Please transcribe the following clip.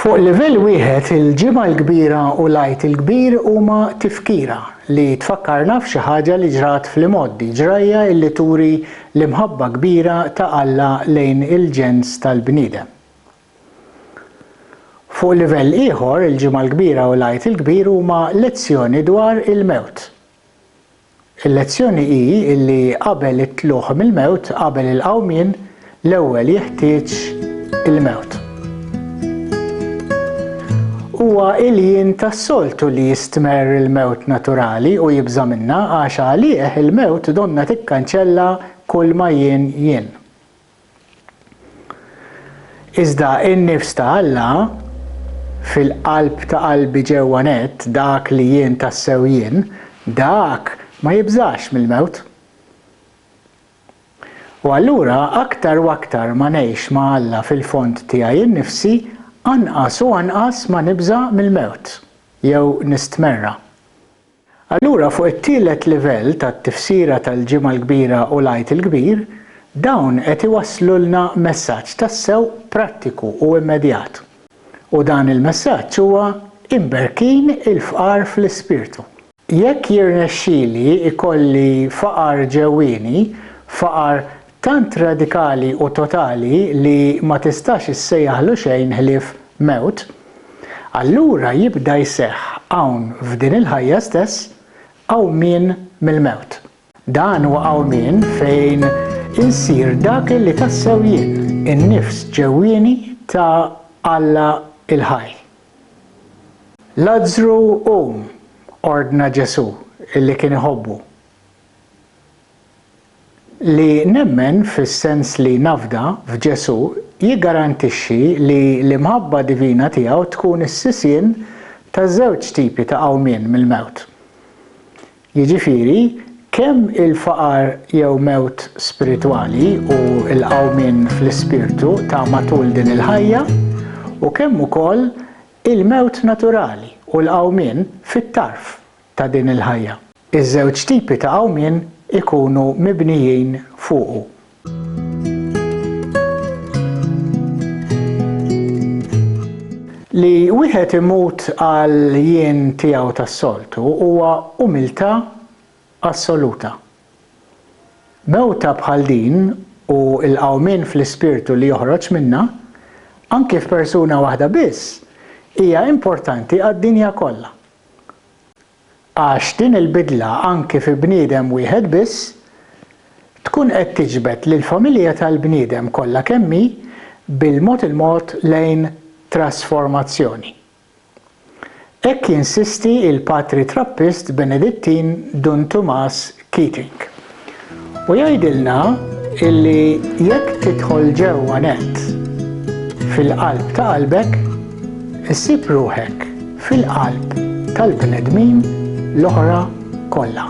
Fuq livell wieħed il-ġimgħa l-kbira u l-għajt il-kbir huma tifkira li tfakkarna f'xi ħaġa li ġrat fl-imgħoddi, ġrajja illi turi L-imħabba kbira ta' Alla lejn il-ġens tal-bniedem. Fuq livell ieħor, il-Ġimgħa l-Kbira u l-Għid il-Kbir huma lezzjoni dwar il-mewt. Il-lezzjoni hi li qabel it-tlugħ mill-mewt, qabel il-qawmien, l-ewwel jeħtieġ il-mewt. Huwa ilien tas-soltu li jistmerr il-mewt naturali u jibża' minnha għax għalih il-mewt donnha tikkanċella kulma jien jien. Iżda in-nifs ta' Alla, fil-qalb ta' qalbi ġewwa nett, dak li jien tassew jien, dak ma jibżax mill-mewt. U allura aktar u aktar ma ngħix ma' Alla fil-fond tiegħi innifsi, anqas u anqas ma nibża' mill-mewt, jew nistmerra. Allura fuq it-tielet livell tat-tifsira tal-Ġimgħa l-Kbira u l-Għid il-Kbir, dawn qed iwasslulna messaġġ tassew prattiku u immedjat. U dan il-messaġġ huwa, Imberkin il-fqar fl-ispirtu. Jekk jirnexxili jkolli faqar ġewwieni, faqar tant radikali u totali li ma tistax issejjaħlu xejn ħlief mewt, allura jibda jseħħ hawn f'din il-ħajja stess qawmien mill-mewt. Dan huwa qawmien fejn insir dak li tassew jien, in-nifs ġewwieni ta' Alla l-ħaj. Lazzru qum! ordna Ġesù li kien iħobbu. Li nemmen fis-sens li nafda f'Ġesù jiggarantixxi li l-imħabba divina tiegħu tkun is-sisien ta' żewġ tipi ta' qawmien mill-mewt. Jiġifieri, kemm il-faqar jew mewt spiritwali u l-qawmien fl-ispirtu ta' matul din il-ħajja, u kemm ukoll il-mewt naturali u l-qawmien fit-tarf ta' din il-ħajja. Iż-żewġ tipi ta' qawmien ikunu mibnijin fuqu. Li wieħed imut għal jien tiegħu tas-soltu huwa umiltà assoluta. Mewta bħal din u l-qawmien fl-ispirtu li joħroġ minnha, anki f'persuna waħda biss, hija importanti għad-dinja kollha. għax din il-bidla anki fi bniedem wieħed biss tkun qed tiġbed lill-familja tal-bniedem kollha kemm hi bil-mod il-mod lejn trasformazzjoni. Hekk jinsisti l-Patri Trappist Benedittin Dun Tumas Keating. U jgħidilna illi jekk tidħol ġewwa nett fil-qalb ta' qalbek, issib ruħek fil-qalb tal-bnedmin l-oħra kollha.